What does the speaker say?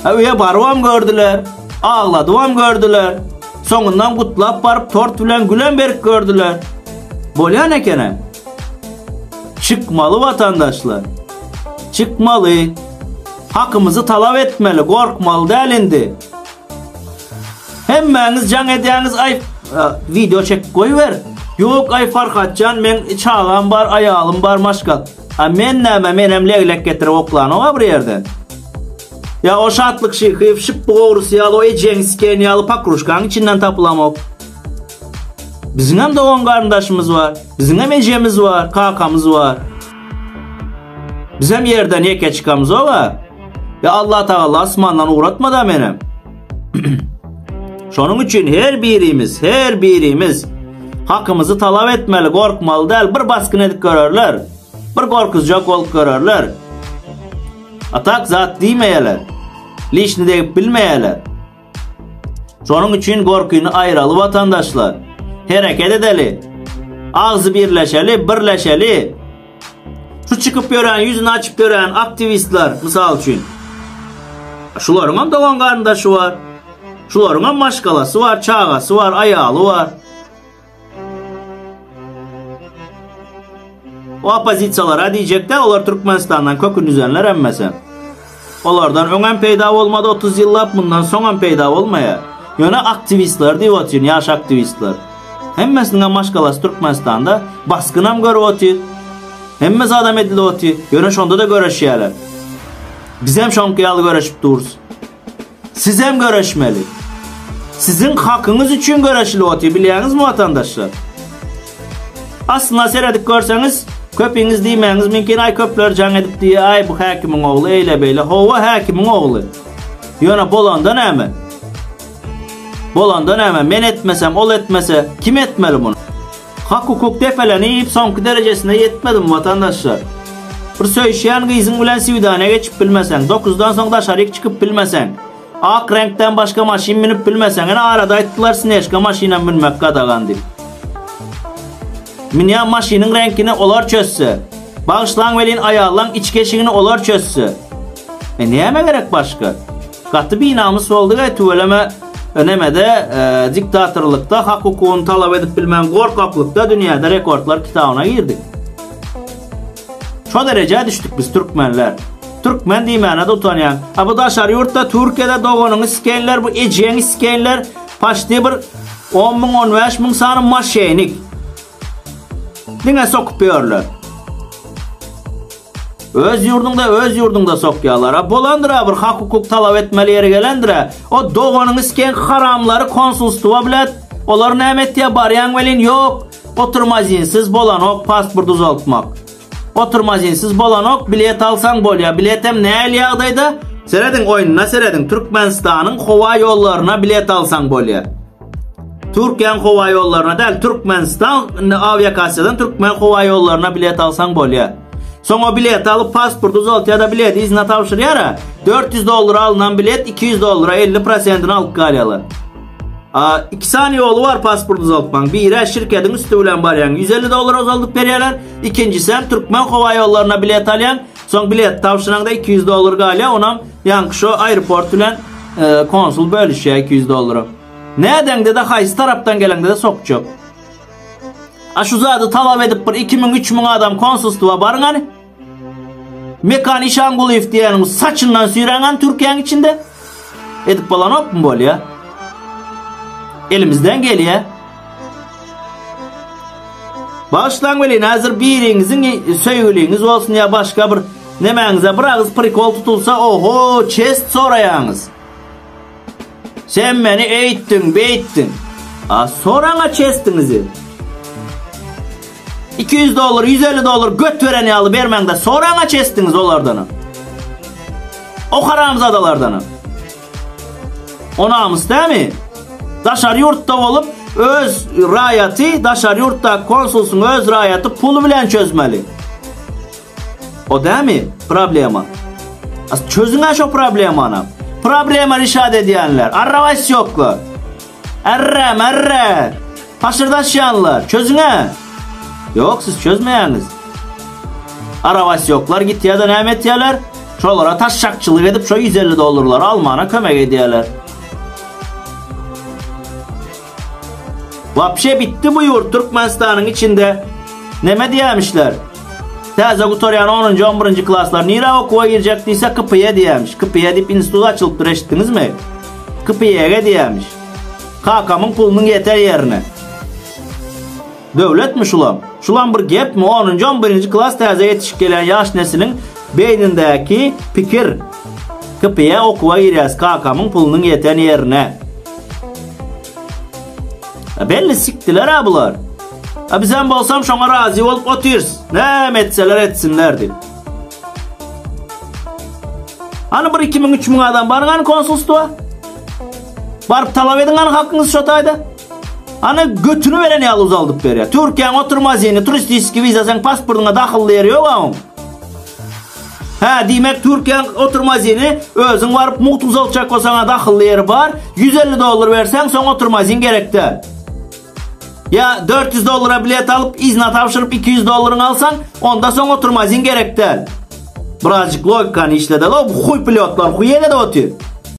Öýe barybam gördüler, agladybam gördüler. Soňundan gutlap baryp tort bilen gülem berip gördüler. Bolýan ekene. Çykmaly watandaşlar. Çykmaly. Hakymyzy talap etmeli, gorkmaly däl indi. Hemmäňiz jaň edýäňiz, aý, e, video çekip goýber. Ýok, aý Farhatjan, men çagam bar, aýalym bar, maşgal. A men näme menem leglek getirip oklanogam bir ýerden. Ýa o Şatlyk Şyhyýew şyp bugawrysy ýaly o ejeň siken ýaly pakruşkaň içinden tapylamok. Biziňem dogan garyndaşymyz bar. Biziňem ejemiz bar, kakamyz bar. Bizem ýerden ýeke çykamyzog-a. Ýa Allatagalla asmandan ugratmada menem. Şonuň üçin her birimiz, her birimiz hakymyzy talap etmeli, gorkmaly däl. Bir basgyn edip görerler. Bir gorkuzjak bolup görerler. Atak zat diýmeýärler. Lişni degip bilmeýärler. Şonuň üçin gorkyny aýraly watandaşlar. Hereket edeli. Agzy birleşeli, birleşeli. Şu çykyp ýören, ýüzüni açyp ýören aktiwistler, mysal üçin, şularyňam dogan-garyndaşy bar, şularyňam maşgalasy bar, çagasy bar, aýaly bar. O oppozisiýalara diýjek-dä, olar Türkmenistandan kökündüzenler hemmesi. Olardan öňem peýda bolmady otuz ýyllap mundan soňam peýda bolmaýar. Ýöne aktiwistler diýip otyryn ýaş aktiwistler. Hemmesiniňem maşgalasy Türkmenistanda basgynam görüp otyr. Hemme zadam edilip otyr. Ýöne şondada göreşýäler. Bizem şoňky ýaly göreşip durys. Sizem göreşmeli. Siziň hakyňyz üçin göreşilip otyr, bilýäňizmi watandaşlar? Aslyna seredip görseňiz, köpiňiz diýmäňiz mümkin, aý köpler jaň edip diýýär, aý bu häkimiň ogly eýle-beýle. Hawa, häkimiň ogly. Ýöne bolanda näme? Bolanda näme? Men etmesem, ol etmese, kim etmeli muny? Hak hukuk depelenip soňky derejesine ýetmedim watandaşlar. Bir söýüşýän gyzyň bilen swidaniýa geçip bilmeseň, dokuzdan soň daşaryk çykyp bilmeseň, ak reňkden başga maşyn münüp bilmeseň, ine arada aýtdylar snežka maşynam münmek gadagan diýip. Münýän maşynyň reňkini olar çözse, bagyşlaň welin aýallaň içki eşigini olar çözse. E näme gerek başga? Gaty binamys boldy we tüweleme nemede diktatorlykda hak hukugyny talap edip bilmän gorkaklykda dünýäde rekordlar kitabyna girdik. Şo derejä düşdük biz türkmenler. Türkmen diýmäne-de utanýan. A bu daşary ýurtda Türkiýede doganyňy sikeýinler bu ejeňi sikeýinler paşti bir on müň on bäş müň sany maşenik. Diňe sokup ýörler. Öz ýurduňda öz ýurduňda sokýalar. A bolandyra bir hak hukuk talap etmeli ýeri gelendira. O doganyň isken haramlary konsulstwa bilet. Olar näme etýä barýaň welin ýok. Oturma izinsiz bolanok pasport uzaltmak. Oturma izinsiz bolanok bilet alsaň bolýa. Biletem näl ýagdaýda? Serediň oýnuna serediň Türkmenistanyň howa ýollaryna bilet alsaň bolýa. Türkiýäň howa ýollaryna däl, Türkmenistan awiakasiýadan türkmen howa ýollaryna bilet alsaň bolýar. Soň o bileti alyp pasport uzaltýar-da bileti yzyna tabşyrýar-a. 400 dollara alnan bilet 200 dollara 50 prosentini alyp galýarlar. A, iki sany ýoly bar pasport uzaltmaň. Biri şirketiň üsti bilen barýaň, 150 dollara uzaldyp berýärler. Ikinjisi hem türkmen howa ýollaryna bilet alýaň. Soň bilet tabşyraňda iki ýüz dollar galýar, onam ýaňky şo aeroport bilen konsul bölüşýär iki ýüz dollary. Nädeňde-de haýsy tarapdan geleňde-de sokjak. A şu zady talap edip bir iki müň, üç müň adam konsulstwa baryň hany. Mekan Işangulyýew diýeniň saçyndan süýräň hany Türkiýäň içinde. Edip bolanokmy bolýa? Elimizden gelýä. Başlan welin hazır biriňiziň söýgüliňiz bolsun ya başga bir nemäňize bir agyz prikol tutulsa oho çest soraýaňyz. Sen meni eýtdiň, beýtdiň. A soraňa çestiňizi. Iki ýüz dollar, ýüz elli dollar göt beren ýaly bermäňde soraňaç esdiňiz olardanam. O haramzadalardanam. O namys dämi? Daşary ýurtda bolup, öz raýaty, daşary ýurtda konsulsyň öz raýaty pul bilen çözmeli. O dämi problema? Çözüň-ä şo problemany. Problema rişat edýänler, arrawasyýoklar. Arra, marra! Paşyrdaşýanlar, çözüň-ä! Ýok, siz çözmeýäňiz. Arabasýoklar gitýär-de näme etýärler? Şolara taşşakçylyk edip, şo ýüz elli dollarlary almana kömek edýärler. Wapşe bitdi bu ýurt Türkmenistanyň içinde. Neme diýämişler? Täze gutarýan onunjy, on birinji klaslar nirä okuwa girjek diýse, KPE diýämiş. KPE diýip institut açylypdyr, eşitdiňizmi? Kpyege diýämiş. Kakamyň pulunyň ýeter ýerine. Döwletmi şulam? Şulam bir gepmi? Onunjy, on birinji klas täze ýetişip gelýän ýaş nesiliň beýnindäki pikir. Kpyä okuwa girýäs, kakamyň pulunyň ýeten ýerine. A belli sikdiler-ä bular. A bizem bolsam şoňa razy bolup otyrs. Näme etseler etsinler diýip. Ana bir 2000 3000 adam bargan konsulstwa. Barp talap edin ana hakyňyz şo taýda. Ana götünü beren ýaly uzaldyp berýär. Türkiýäň oturma zeni, turistiski viza sen pasportyňa dahylly ýeri ýok aň. Ha, diýmek Türkiýäň oturma zeni özüň baryp mugt uzaltjak bolsaň dahylly ýeri bar. 150 dollar berseň soň oturma zin gerekde. Ýa 400 dollara bilet alyp, yzyna tabşyryp 200 dollaryňy alsaň, onda soň oturmazyň gerek däl. Birazjyk logikany işlede-le, bu huý pilotlar huý edede otyr.